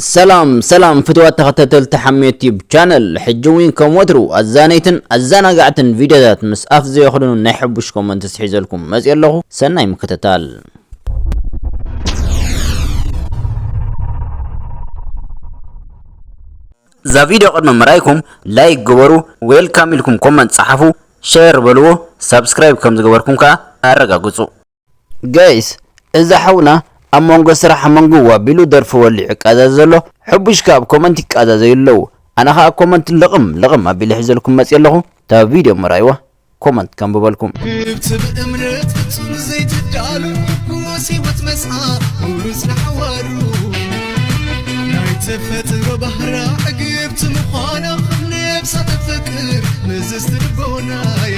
ሰላም ሰላም ፍትዋት ተኸታተልቲ ሓሜት ዩቲዩብ ቻነል ሕጂ እውን ከም ወትሩ ኣዛነይትን ኣዘናጋዕትን ቪድዮታት ምስ ኣፍ ዘየኽድኑ ናይ ሕቡሽ ኮመንት ስሒዘልኩም መፅእ ኣለኹ ሰናይ ምክትታል እዛ ቪድዮ ቅድሚ ምራይኩም ላይክ ግበሩ ዌልካም ኢልኩም ኮመንት ፀሓፉ ሸር በልዎ ሳብስክራይብ ከም ዝገበርኩም ከዓ ኣረጋግፁ ጋይስ እዛ ሓውና ኣብ መንጎ ስራሕ መንጉው ኣቢሉ ደርፊ ወሊዑ ይቃዛዘ ዘሎ ሕቡሽ ከኣ ኣብ ኮመንት ይቃዛዘዩ ኣለዉ ኣነ ከኣ ኮመንት ልቕም ልቕም ኣቢለ ሒዘልኩም መጽየ ኣለኹ እታ ቪድዮ ምርኣይዋ ኮመንት ከንብበልኩም። ክብቲ ብእምነት ፍጹም ዘይትዳሉ ምወስ ህይወት መስኣ ምውርስ ንሓዋሩ ናይ ተፈጥሮ ባህራ ዕግብቲ ምዃና ነብሳ ተፍቅር ምዝዝቲ ልቦናይ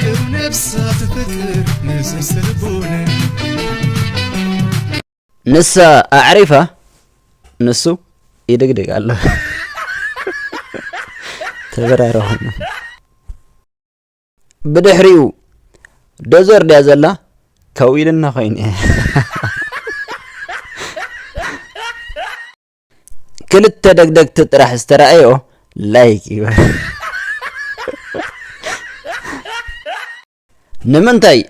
ቅን ነብሳት ፍቅር ንስስር ልቦነ ንሳ ኣዕሪፋ ንሱ ይድግድግ ኣሎ ተበራረኹም ብድሕሪኡ ዶዘር ድያ ዘላ ከው ኢልና ኮይኑ ክልተ ደግደግቲ ጥራሕ ዝተረኣዮ ላይክ ይበል ንምንታይ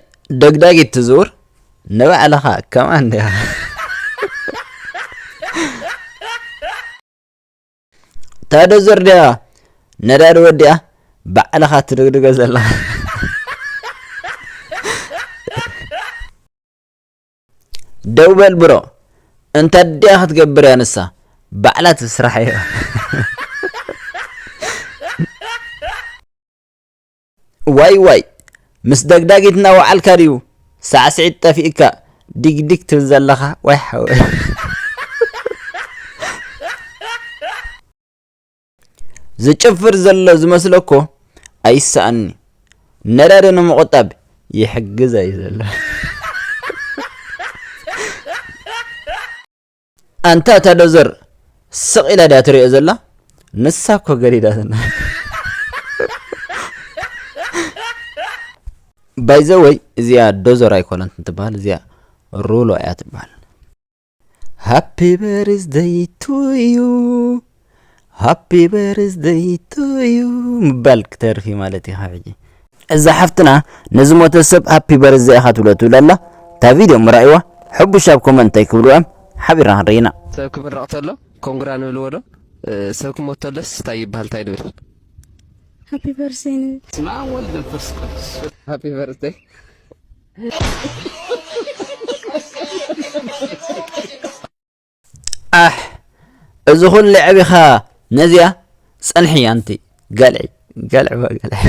ደግዳጊት ትዝውር ንባዕልኻ ከምኣ እንዲያ ታደዘር ድያ ነዳዲ ወዲኣ ባዕልኻ ትድግድገ ዘለኻ ደው በል ብሮ እንተ ድያ ክትገብር እያ ንሳ ባዕላ ትስራሕ እያ ዋይ ዋይ ምስ ደግዳጊት እናወዓልካ ድዩ ሳዕስዒት ጠፊእካ ዲግዲግ ትብል ዘለኻ ዋይ ሓወይ ዝጭፍር ዘሎ ዝመስለኮ ኣይሰኣኒ ነዳዲ ንምቑጣብ ይሕግዝ ኣዩ ዘሎ ኣንታ እታ ዶዘር ስቕ ኢላ ድያ ትሪኦ ዘላ ንሳ እኮ ገዲዳትና ባይዘወይ እዚኣ ዶዘር ኣይኮነት እንትበሃል እዚኣ ሩሎ እያ ትበሃል ሃፒ በርዝደይ ቱዩ ሃፒ በርዝደይ ቱዩ ምባል ክተርፍ እዩ ማለት ኢኻ ሕጂ እዛ ሓፍትና ንዝሞተ ሰብ ሃፒ በርዝደይ ኢኻ ትብሎ ትብል ኣላ እታ ቪድዮ ምራእይዋ ሕቡሽ ኣብ ኮመንት እንታይ ክብሉ እዮም ሓቢርና ክንርኢ ኢና ሰብ ክምረቕ ተሎ ኮንግራ ንብልዎ ዶ ሰብ ክሞት ተሎስ እንታይ ይበሃል እንታይ ንብል ሃፒ በርዝደይ ንብል ስማ ወልድ መንፈስ ቅዱስ ሃፒ በርዝደይ ኣሕ እዚ ኩሉ ዕቢኻ ነዚኣ ጸንሒ ኣንቲ ገልዒ ገልዒ ገልዒ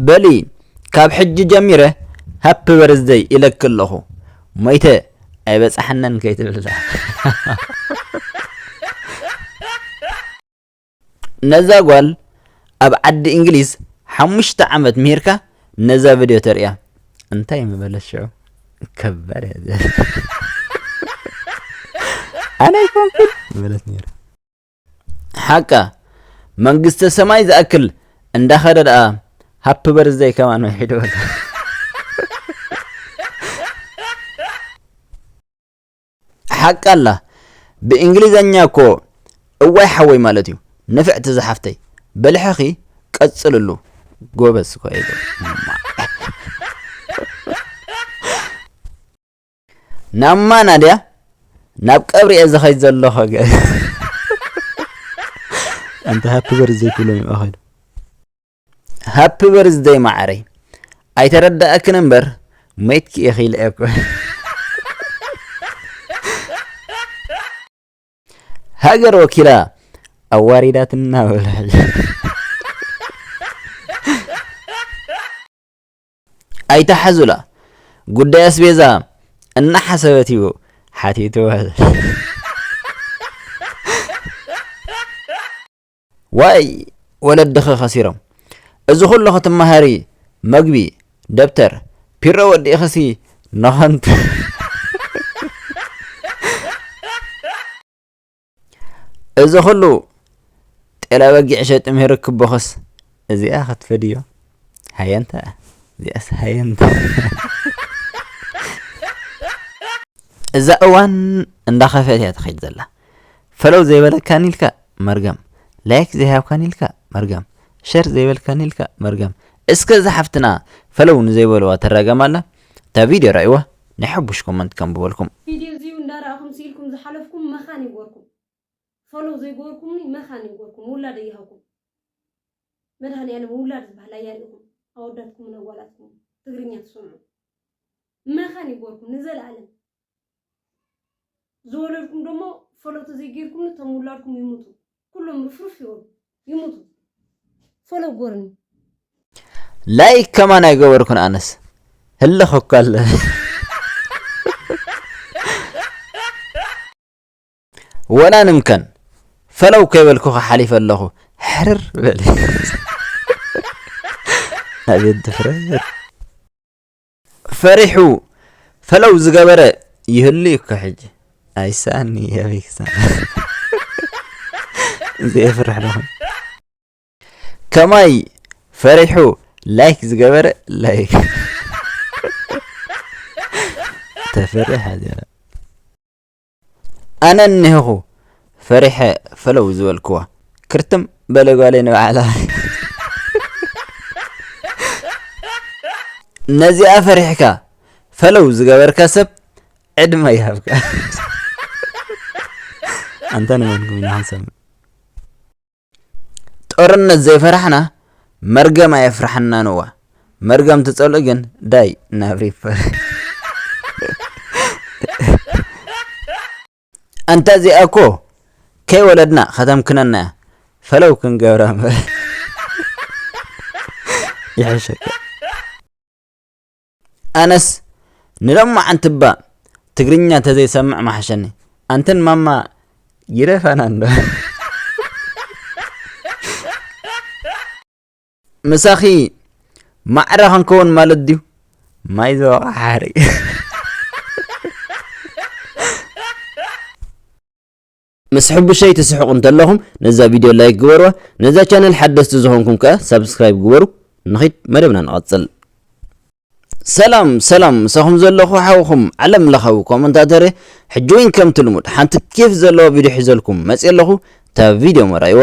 በሊ ካብ ሕጂ ጀሚረ ሃፒ በርዝደይ ኢለኪ ኣለኹ ሞይተ ኣይበጻሕነን ከይትብልላ ነዛ ጓል ኣብ ዓዲ እንግሊዝ ሓሙሽተ ዓመት ምሂርካ ነዛ ቪድዮ ተርእያ እንታይ ምበለት ሽዑ ከባድ እያ ኣነ ኣይኮንኩን ምበለት ነይራ ሓቃ መንግስተ ሰማይ ዝኣክል እንዳኸደ ደኣ ሃፒ በርዝደይ ከማን መሒዶ ሓቂ ኣላ ብእንግሊዘኛ እኮ እዋይ ሓወይ ማለት እዩ ንፍዕቲ ዝሓፍተይ በልሕኺ ቀፅልሉ ጎበዝ ናማ ናድያ ናብ ቀብሪ እየ ዝኸይድ ዘለኹ ኣንተ ሃፒ በርዘይ ክብሎም ይባኸሉ ሃፒ በርዝደይ ማዓረይ ኣይተረዳኣክን እምበር ሞይትኪ ኢኺ ኢለ እኮ ሃገር ወኪላ ኣዋሪዳትና በለ ሕጂ ኣይተሓዙላ ጉዳይ ኣስቤዛ እናሓሰበት እዩ ሓቲትዋ ዋይ ወለድኺ ከሲሮም እዚ ኩሉ ክትመሃሪ መግቢ ደብተር ፒሮ ወዲእኺሲ ንኸንቱ እዚ ኩሉ ጤላ በጊዕ ሸጢ ምሂር ክቦኽስ እዚኣ ክትፈድዮ ሃየንታ እዚኣስ ሃየንታ እዛ እዋን እንዳኸፈት እያ ትኸይድ ዘላ ፈለው ዘይበለካኒ ኢልካ መርገም ላይክ ዘይሃብካኒ ኢልካ መርገም ሸር ዘይበልካኒ ኢልካ መርገም እስከ እዛ ሓፍትና ፈለው ንዘይበልዋ ትራገም ኣላ እታ ቪድዮ ራእይዋ ናይ ሕቡሽ ኮመንት ከንብበልኩም። ፊድዮ እዚዩ እንዳራኣኹም ሲኢልኩም ዝሓለፍኩም መኻን ይግበርኩም ፎሎው ዘይገበርኩምኒ መኻን ይግበርኩም ውላደይ ይሃብኩም መድሃኒኣለም ውላድ ዝበሃል ኣያሪእኹም ኣወዳትኩምን ኣጓላትኩምን ትግርኛ ትሰምዑ መኻን ይግበርኩም ንዘለኣለም ዝወለድኩም ደሞ ፈለቶ ዘይገይርኩም እቶም ውላድኩም ይሙቱ ኩሎም ርፍርፍ ይበሉ ይሙቱ ፈሎ ጎርኒ ላይክ ከማን ኣይገበርኩን ኣነስ ህልኽ እኮ ኣለ ወላ ንምከን ፈለው ከይበልኩ ሓሊፈ ኣለኹ ሕርር በለ ኣቤት ድፍረት ፈሪሑ ፈለው ዝገበረ ይህሉ እዩ እኮ ሕጂ ኣይሰኣኒ ኣበይ ክሳዕ ዘየፍርሕ ዶ ከማይ ፈሪሑ ላይክ ዝገበረ ላይክ ተፈርሕ ሃገረ ኣነ እኒሀኹ ፈሪሐ ፈለው ዝበልክዋ ክርትም በለ ጓለይ ንባዕላ ነዚኣ ፈሪሕካ ፈለው ዝገበርካ ሰብ ዕድመ ይሃብካ ኣንታ ንመንኩም ኢና ክንሰምዕ ጦርነት ዘይፈራሕና መርገም ኣየፍራሕና ነዋ መርገም ትጸልኡ ግን ዳይ ናብ ሪፐር ኣንታ እዚኣ እኮ ከይወለድና ከተምክነና እያ ፈለው ክንገብራ እምበር ይሕሸካ ኣነስ ንሎማዓንቲ እባ ትግርኛ ተዘይ ሰምዕ ምሓሸኒ ኣንተን ማማ ይደፈና እንዶ። ምሳኺ ማዕረ ክንከውን ማለት ድዩ ማይ ዘወቓ ሓሪ ምስ ሕቡሸይ ትስሕቁ እንተለኹም ነዛ ቪድዮ ላይክ ግበርዋ ነዛ ቻነል ሓደስቲ ዝኾንኩም ከኣ ሳብስክራይብ ግበሩ ንኺድ መደብና ንቐጽል ሰላም ሰላም ምሳኹም ዘለኹ ሓውኹም ዓለም ለኻዊ ኮመንታተር ሕጂ እውን ከምቲ ልሙድ ሓንቲ ኬፍ ዘለዋ ቪድዮ ሒዘልኩም መፅየ ኣለኹ እታ ቪድዮ መራይዋ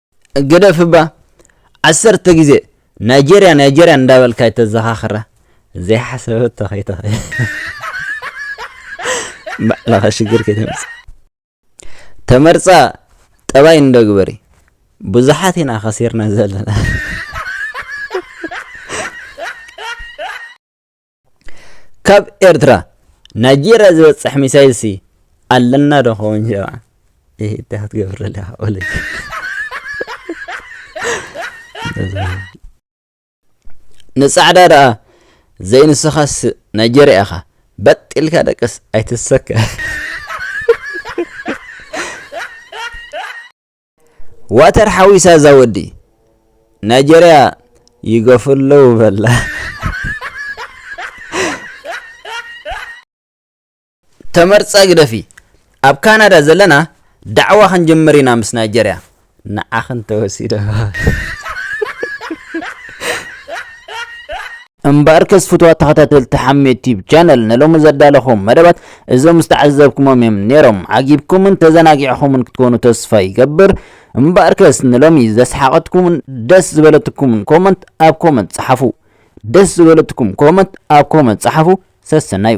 ግደፍ እባ ዓሰርተ ግዜ ናይጀርያ ናይጀርያ እንዳበልካ ኣይተዘኻኽራ ዘይሓሰበቶ ከይትኽእል ባዕልኻ ሽግር ከይተምፅእ ተመርፃ ጠባይ እንዶ ግበሪ ብዙሓት ኢና ከሲርና ዘለና ካብ ኤርትራ ናይጀርያ ዝበጽሕ ሚሳይልሲ ኣለና ዶ ኸውን ጀምዓ ይህ እንታይ ክትገብር ኣለኻ ወለይ ንጻዕዳ ደኣ ዘይንስኻስ ናይጀርያ ኢኻ በጢልካ ደቅስ ኣይትሰከ ዋተር ሓዊሳ እዛ ወዲ ናይጀርያ ይገፉ ኣለዉ በላ ተመርፀ ግደፊ ኣብ ካናዳ ዘለና ዳዕዋ ክንጅምር ኢና ምስ ናይጀርያ ንዓኽን ተወሲዶ እምበኣርከስ ፍቱዋት ተኸታተልቲ ሓሜት ቲዩብ ቻነል ንሎሚ ዘዳለኹዎም መደባት እዞም ዝተዓዘብኩሞም እዮም ኔሮም ዓጊብኩምን ተዘናጊዕኹምን ክትኮኑ ተስፋ ይገብር እምበኣርከስ ንሎሚ ዘስሓቐትኩምን ደስ ዝበለትኩምን ኮመንት ኣብ ኮመንት ጸሓፉ ደስ ዝበለትኩም ኮመንት ኣብ ኮመንት ጸሓፉ ሰሰናዩ